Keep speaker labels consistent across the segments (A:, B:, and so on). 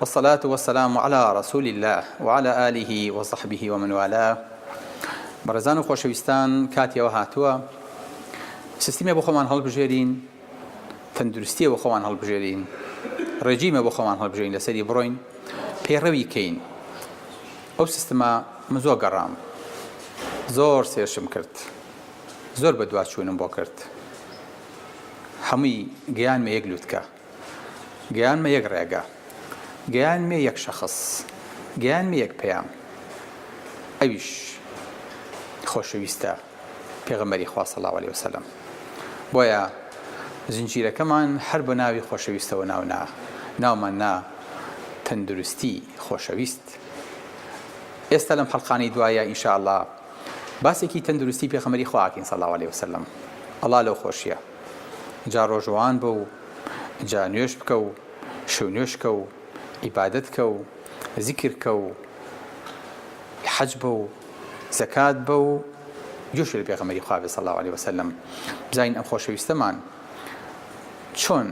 A: والصلاة والسلام علی رسول اللە وعلی آله وصحبه ومن والاه بەڕێزان و خۆشەویستان کاتی ئەوە هاتووە سیستمێ بۆ خۆمان هەڵبژێرین تەندروستیە بۆ خۆمان هەڵبژێرین ڕێجیمە بۆ خۆمان هەڵبژێرین لەسەری بڕۆین پێڕەوی کەین ئەو سیستمە من زۆر گەڕام زۆر سێرشم کرد زۆر بە دواچوونم بۆ کرد هەمووی گەیان مە یەک لوتکە گەیانمە یەک ڕێگە. گەیانمە یەک شەخس. گەیانمە یەک پەیام. ئەویش خۆشەویستە پێغەمبەری خوا صلی اللە علیە و سلم. بۆیە زنجیرەکەمان هەر بە ناوی خۆشەویستەوە ناو نا. ناومان نا تەندروستی خۆشەویست. ئێستا لەم حەڵقانەی دوایە ان شاء اللە باسێکی تەندروستی پێخەمبەری خوا ئەکەین صلی اللە علیە و سلم. ئەڵا لەو خۆشیە. جا ڕۆژوان بە و جا نوێژ بکە و شو نوێژ کە و عیبادەت کە و زیکر کە و حەج بە و زەکات بە و گوێش لە پێغەمبەری خوا بێ صلی اللە علیە وسلم بزانین ئەم خۆشەویستەمان چۆن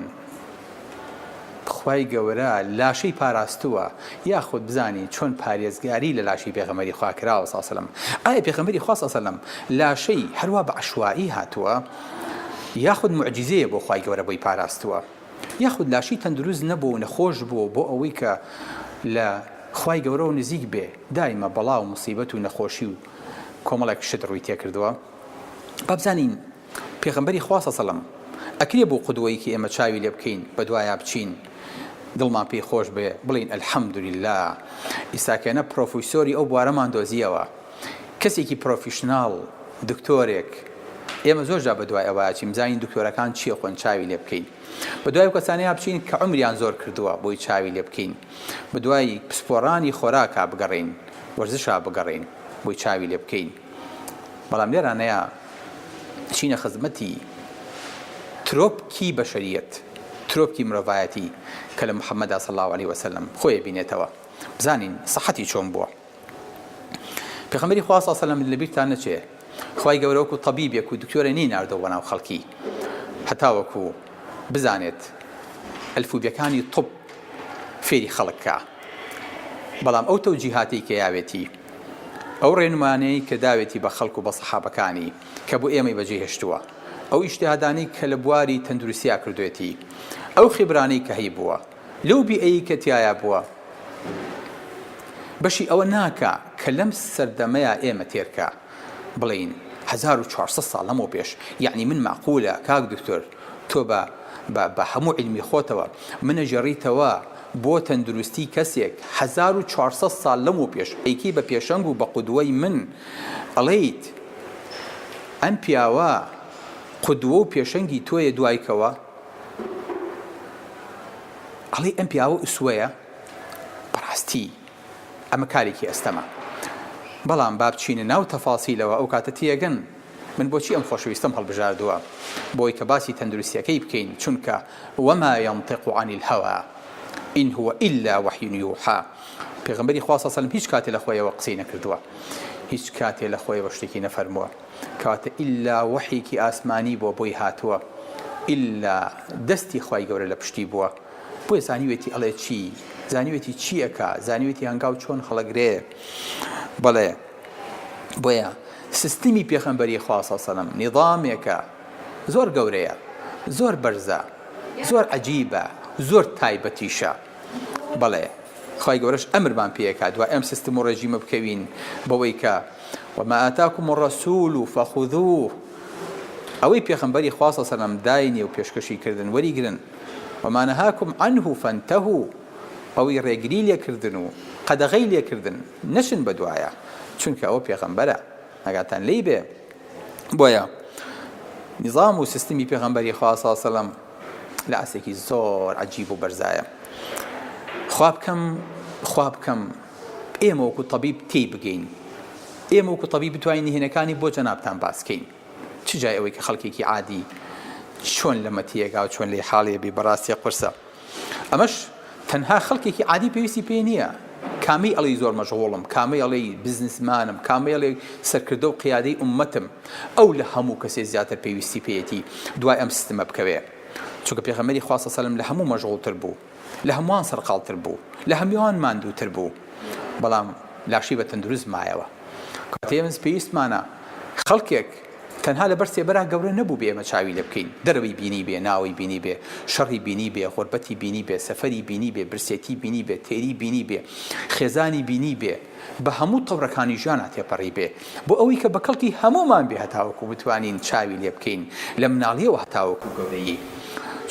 A: خوای گەورە لاشەی پاراستووە یاخود بزانین چۆن پارێزگاری لە لاشەی پێغەمبەری خوا کراوە صلی اللە علیە وسلم ئایا پێغەمبەری خوا صلی اللە علیە وسلم لاشەی هەروا بە عەشوائی هاتووە یاخود موعجیزەیە بۆ خوای گەورە بۆی پاراستووە یاخود لاشی تەندروست نەبووە و نەخۆش بووە و بۆ ئەوەی کە لە خوای گەورەوە نزیک بێ دایمە بەڵا و موسیبەت و نەخۆشی و کۆمەڵێک شت ڕووی تێکردووە با بزانین پێغەمبەری خوا سەسەڵەم ئەکرێ بۆ قودوەیەکی ئێمە چاوی لێ بکەین بەدوایا بچین دڵمان پێی خۆش بێ بڵێین الحمدللە ئیساکێنە پڕۆفیسۆری ئەو بوارەمان دۆزیەوە. کەسێکی پرۆفیشناڵ، دکتۆرێک، ئێمە زۆر جار بەدوای ئەوە ئەچین بزانین دکتۆرەکان چییە خۆن چاوی لێ بکەین. بەدوای ئەو کەسانەیا بچین کە عومریان زۆر کردووە بۆی چاوی لێ بکەین. بەدوای پسپۆڕانی خۆراکا بگەڕێین، وەرزشا بگەڕێین بۆی چاوی لێ بکەین. بەڵام لێرانەیا ئەچینە خزمەتی ترۆپکی بەشەرییەت، ترۆپکی مرۆڤایەتی کە لە محەمەدا صلی اللە علیە وسلم خۆی ئەبینێتەوە بزانین سەحەتی چۆن بووە. پێخەمبەری خوا صلی اللە علیە و سلم لەبیرتان نەچێ خوای گەورە وەکو طبیبێک و دکتۆرێ نەی ناردەوە بەناو خەڵکی هەتاوەکو بزانێت ئەلفوبێکانی طب فێری خەڵک کا بەڵام ئەو تەوجیهاتەی کە یاوێتی ئەو ڕێنمانەی کە داوێتی بە خەڵک و بە صحابەکانی کە بۆ ئێمەی بەجێ هێشتووە ئەو ئیجتهادانەی کە لە بواری تەندروستیا کردوێتی ئەو خیبرانەی کە هەیبووە لەو بیئەیی کە تیایا بووە بەشی ئەوە ناکا کە لەم سەردەمەیا ئێمە تێرکە بڵێین هەزار و چوار سەد ساڵ لەمەو پێش یەعنی من مەعقولە کاک دوکتور تۆ بە بە بە هەموو عیلمی خۆتەوە منەگێڕیتەوە بۆ تەندروستی کەسێک هەزار و چوار سەد ساڵ لەمەو پێش ئەیکەی بە پێشەنگ و بە قودوەی من ئەڵێیت ئەم پیاوە قودوە و پێشەنگی تۆیە دوای کەوە؟ ئەڵێی ئەم پیاوە ئسوەیە بەڕاستی ئەمە کارێکی ئەستەمە بەڵام با بچینە ناو تەفاسیلەوە ئەو کاتە تێگەن من بۆچی ئەم خۆشەویستەم هەڵبژاردووە بۆی کە باسی تەندروستیەکەی بکەین چونکە وما ينطق عن الهوى ان هو الا وحی یوحا پێغمبەری خوا صلی الله علیه و سلم هیچ کاتێ لە خۆیەوە قسەی نەکردووە هیچ کاتێ لە خۆیەوە شتێکی نەفەرمووە کەواتە ئیللا وەحیێکی ئاسمانی بووە بۆی هاتووە ئیللا دەستی خوای گەورە لە پشتی بووە بۆیە زانیوێتی ئەڵێ چی زانیوێتی چی ئەکا زانیوێتی هەنگاو چۆن خەڵەگرێ بەڵێ بۆیە سیستمی پێخەمبەری خواسە سەلم نیظامێکە زۆر گەورەیە زۆر بەرزە زۆر عجیبە زۆر تایبەتیشە بەڵێ خی گەورەش ئەمرمان پێکات دو ئەم سیستم و ڕێژیمە بکەوین بەوەی کە وما آتاکم الرسول فخذوه ئەوەی پێخەمبەری خوا صلی سەلەم داینێ و پێشکەشی کردن وەریگرن وما نهاکم عنه فانتهوا ئەوەی ڕێگری لێکردن و قەدەغەی لێکردن نەچن بەدوایە چونکە ئەوە پێغەمبەرە ئاگاتان لێی بێ بۆیە نظام و سیستمی پێغەمبەری خوا صلی سەلەم لە ئاستێکی زۆر عجیب و بەرزایە خواب کەم خواب کەم ئێمە وەکو تەبیب تێی بگەین. ئێمە وەکو تەبیب بتوانین نهێنەکانی بۆ جەنابتان باس کەین. چ جای ئەوەی کە خەڵکێکی عادی چۆن لەمە تێگا و چۆن لێی خاڵێ بی بەڕاستێ قورسە. ئەمەش تەنها خەڵکێکی عادی پێویستی پێی نییە. کامەی ئەڵی زۆر مەشغوڵم، کامەی ئەڵی بزنسمانم، کامەی ئەڵی سەرکردە و قیادەی ئوممەتم، ئەو لە هەموو کەسێ زیاتر پێویستی پێیەتی دوای ئەم سیستمە بکەوێ. چونکە پێغەمبەری خوا صلی اللە علیه و سلم لە هەموو مەشغوڵتر بوو. لە هەمووان سەرقاڵتر بوو، لە هەمووان ماندووتر بوو، بەڵام لاشەی بە تەندروست مایەوە. کاتێ ئێمەز پێویستمانە خەڵکێک تەنها لەبەر سێبەرا گەورە نەبووبێ ئێمە چاوی لێ بکەین، دەرەوەی بینیبێ، ناوەی بینیبێ، شەڕی بینیبێ، غوربەتی بینیبێ، سەفەری بینیبێ، برسێتی بینیبێ، تێری بینیبێ، خێزانی بینیبێ، بە هەموو تەورەکانی ژیانا تێپەڕی بێ، بۆ ئەوەی کە بە کەڵکی هەموومان بێ هەتاوەکو بتوانین چاوی لێ بکەین لە مناڵییەوە هەتاوەکو گەورەیی،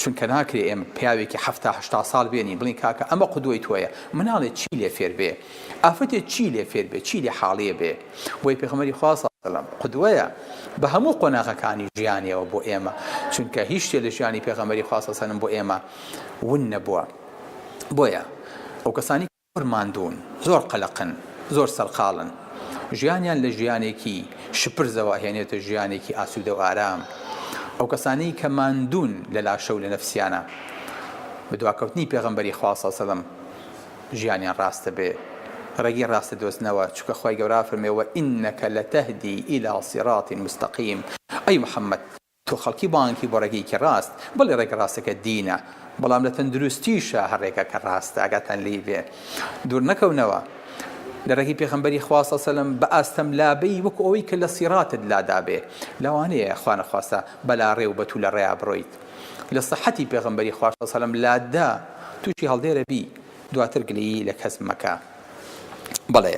A: چونکە ناکرێ ئێمە پیاوێکی حەفتا هەشتا ساڵ بێنین بڵێین کاکە ئەمە قودوەی تۆیە، مناڵێ چی لێ فێر بێ؟ ئافرەتێ چی لێ فێر بێ؟ چی لێ حاڵیێ بێ؟ بۆیە پێخەمبەری خوا، صلی اللە علیە وسلم، قودوەیە بە هەموو قۆناغەکانی ژیانیەوە بۆ ئێمە، چونکە هیچ شتێ لە ژیانی پێغەمبەری خوا، صلی اللە علیە وسلم، بۆ ئێمە ون نەبووە، بۆیە ئەو کەسانی. زۆر ماندوون، زۆر قەلەقن، زۆر سەرقاڵن. ژیانیان لە ژیانێکی شپرزەوە ئەهێنێتە ژیانێکی ئاسوودە و ئارام. ئەو کەسانەی کە ماندوون لە لاشە و لە نەفسیانە، بە دواکەوتنی پێغەمبەری خوا صلی سەلەم ژیانیان ڕاستە بێ ڕێگەی ڕاست دەدۆزنەوە، چونکە خوای گەورە فەرموویەوە، انک لتهدی الی صراط مستقیم، ئەی محمد! تۆ خەڵکی بانگی بۆ ڕێگەیەکی ڕاست بەڵێ ڕێگە ڕاستەکە دینە بەڵام لە تەندروستیشا هەر ڕێگاکە ڕاستە ئاگاتان لێی بێ دوور نەکەونەوە لە ڕێگەی پێخەمبەری خوا صلی سەلم بە ئاستەم لابەی وەکو ئەوەی کە لە سیڕاتت لادابێ لەوانەیە خوا نەخواستە بەلا ڕێ و بە توولە ڕێیا بڕۆیت لە صحەتی پێغەمبەری خوا صلی سەلم لاتدا تووشی هەڵدێرە بی دواتر گلەیی لە کەس مەکە بەڵێ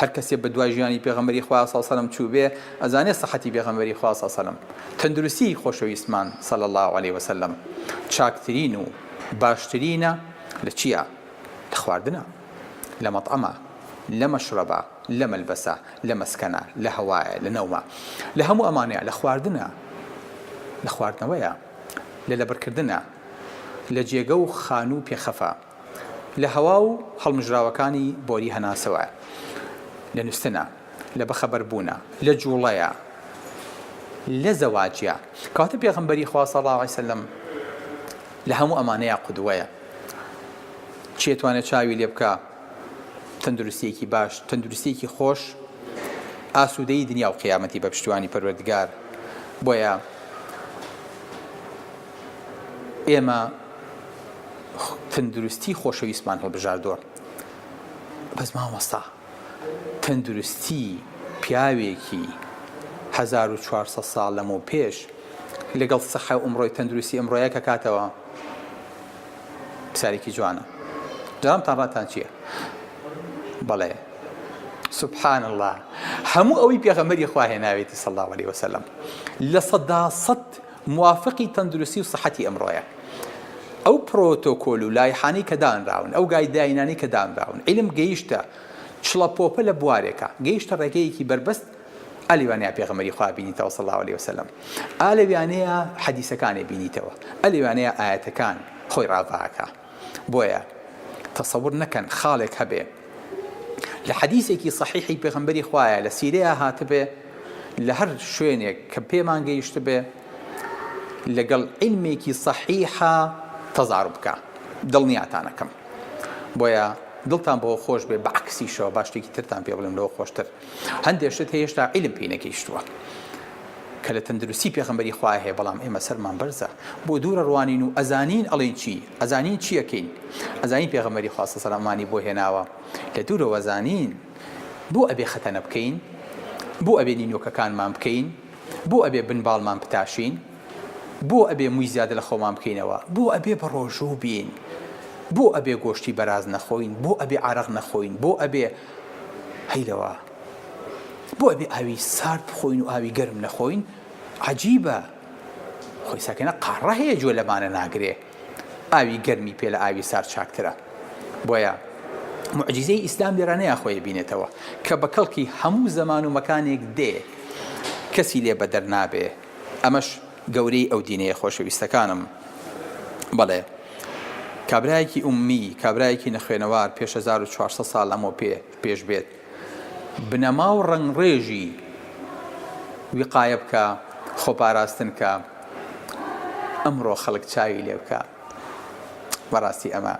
A: هەر کەسێ بە دوای ژیانی پێغەمبەری خوا صلی سەلم چووبێ ئەزانێ سەحەتی پێغەمبەری خوا صلی سەلم تەندروستیی خۆشەویستمان صلی اللە علیە وسلم چاکترین و باشترینە لە چیا؟ لە خواردنە لە مەطعەمە لە مەشرەبە لە مەلبەسە لە مەسکەنە لە هەوایە لە نەومە لە هەموو ئەمانەیا لە خواردنە لە خواردنەوەیە لە لەبڕکردنە لە جێگە و خانوو پێخەفە لە هەوا و هەڵمژراوەکانی بۆری هەناسەوە، لە نوستنە، لە بەخەبەر بوونە، لە جوڵەیە، لە زەواجە، کەواتە پێغەمبەری خوا صلی اللە علیە وسلم لە هەموو ئەمانەیا قودوەیە، چی ئەتوانێ چاوی لێ بکا؟ تەندروستیەکی باش، تەندروستیەکی خۆش ئاسودەیی دنیا و قیامەتی بە پشتیوانی پەروەردگار، بۆیە. ئێمە تەندروستی خۆشەویستمان هەڵبژاردووە بەس مامۆستا تەندروستی پیاوێکی 1400 ساڵ لەمەو پێش لەگەڵ سەحە و ئەمڕۆی تەندروستی ئەمڕۆیە کە کاتەوە پسارێکی جوانە جامتان ڕاتان چییە؟ بەڵێ سبحان الله هەموو ئەوەی پێغەمەری خواهێناوێتی سەڵاوەی وسلم لە سەدا سەد موافقی تەندروستی و سەحەتی ئەمڕۆیە. ئەو پرۆتۆکۆل و لایحانەی کە دانراون، ئەو گایدلاینانەی کە دانراون، عیلم گەیشتە چڵەپۆپە لە بوارێکا، گەیشتە ڕێگەیەکی بەربەست، ئا لەوانەیە پێغەمبەری خوا بینیتەوە صلی اللە علیە وسلم، ئا لەوانەیە حەدیسەکانێ بینیتەوە، ئە لەوانەیە ئایەتەکان خۆی ڕاڤاکا. بۆیە تەسەور نەکەن خاڵێک هەبێ لە حەدیسێکی سەحیحی پێغەمبەری خوایە لە سیرەیە هاتبێ لە هەر شوێنێک کە پێمان گەیشتبێ لەگەڵ عیلمێکی سەحیحە تەزار بکە دڵنیاتانەکەم بۆیە دڵتان بەوە خۆش بێ بەعکسیشەوە باشتێکی ترتان پێ بڵێم لەوە خۆشتر هەندێ شت هەیە هێشتا عیلم پێی نەگەیشتووە کە لە تەندروستی پێغەمبەری خوا هەیە بەڵام ئێمە سەرمان بەرزە بۆ دوورە ڕوانین و ئەزانین ئەڵێن چی ئەزانین چیەکەین ئەزانین پێغەمبەری خواستە سەلامانی بۆ هێناوە لە دوورەوە زانین بۆ ئەبێ خەتەنە بکەین بۆ ئەبێ نینۆکەکانمان بکەین بۆ ئەبێ بنباڵمان بتاشین بۆ ئەبێ مووی زیادە لە خۆمان بکەینەوە بۆ ئەبێ بە ڕۆژوو بین بۆ ئەبێ گۆشتی بەراز نەخۆین بۆ ئەبێ عرق نەخۆین بۆ ئەبێ هەی لەوە بۆ ئەبێ ئاوی سارد بخۆین و ئاوی گەرم نەخۆین عەجیبە خۆی ساکەنە قاڕە هەیە جۆ لەمانە ناگرێ ئاوی گەرمی پێ لە ئاوی سار چاکترە بۆیە معجززەی ئیسلام لێرانەیە خۆی بینێتەوە کە بە کەڵکی هەموو زەمان و مەکانێک دێ کەسی لێ بەدەر نابێ ئەمەش گەورەی ئەو دینەیە خۆشەویستەکانم. بەڵێ کابرایەکی ئوممی، کابرایەکی نەخوێنەوار پێش هەزار و چوار سەد ساڵ لەمەو پێ پێش بێت بنەما و ڕەنگڕێژی وقایە بکا، خۆپاراستن کا، ئەمڕۆ خەڵک چاوی لێ بکا. بەڕاستی ئەمە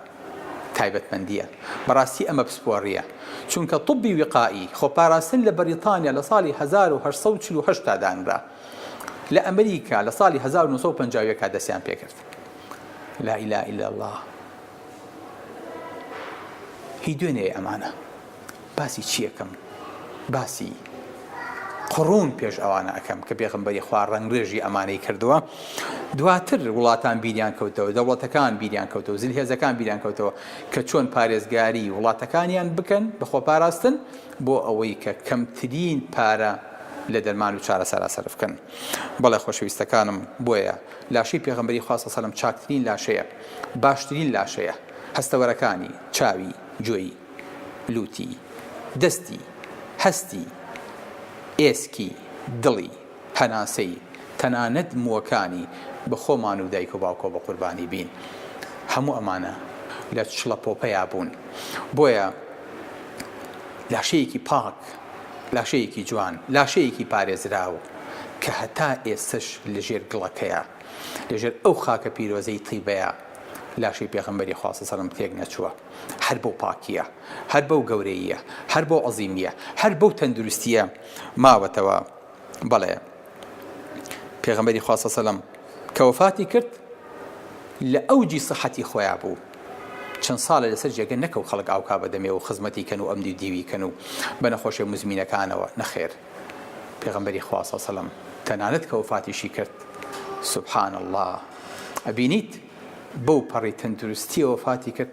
A: تایبەتمەندییە. بەڕاستی ئەمە پسپۆڕییە. چونکە طبی وقائی، خۆپاراستن لە بەریتانیا لە ساڵی هەزار و هەشت سەد و چل و هەشت تا دانرا. لە ئەمریکا لە ساڵی هەزار و نۆ سەد و پەنجا و یەک دەستیان پێکرد لا اله الا الله هی دوێنێ ئەمانە باسی چیەکەم باسی قڕون پێش ئەوانە ئەەکەم کە پێغمبەری خوا ڕنگڕێژی ئەمانەی کردووە دواتر وڵاتان بیریان کەوتەوە دەوڵەتەکان بیریان کەوتەوە زل هێزەکان بیریان کەوتەوە کە چۆن پارێزگاری وڵاتەکانیان بکەن بەخۆ پاراستن بۆ ئەوەی کە کەمترین پارە لە دەرمان و چارەسەرا سەرف بکەن. بەڵێ خۆشەویستەکانم، بۆیە لاشەی پێغەمبەری خوا صلی سەلم چاکترین لاشەیە، باشترین لاشەیە، هەستەوەرەکانی، چاوی، گوێی، لوتی، دەستی، هەستی، ئێسکی، دڵی، هەناسەی تەنانەت مووەکانی بە خۆمان و دایک و باوکەوە بە قوربانی بین هەموو ئەمانە لە چڵەپۆپەیا بوون بۆیە لاشەیەکی پاک لاشەیەکی جوان لاشەیەکی پارێزراو کە هەتا ئێستەش لە ژێر گڵەکەیە لە ژێر ئەو خاکە پیرۆزەی تیبەیە لاشەی پێغەمبەری خوا صلی سەلم تێک نەچووە هەر بەو پاکیە هەر بەو گەورەییە هەر بەو عەزیمیە هەر بەو تەندروستیە ماوەتەوە بەڵێ پێغەمبەری خوا سەسەلەم کە وەفاتی کرد لە ئەوجی سەحەتی خۆیان بوو چەند ساڵە لەسەر جێگە نەکەو خەڵک ئاوکا بەدەمێ و خزمەتی کەن و ئەم دی دیوی کەن و بە نەخۆشێ مزمینەکانەوە نەخێر پێغمبەری خواسە سەلم تەنانەت کە وفاتیشی کرد سبحان الله ئەبینیت بەو پەڕی تەندروستیەوە فاتی کرد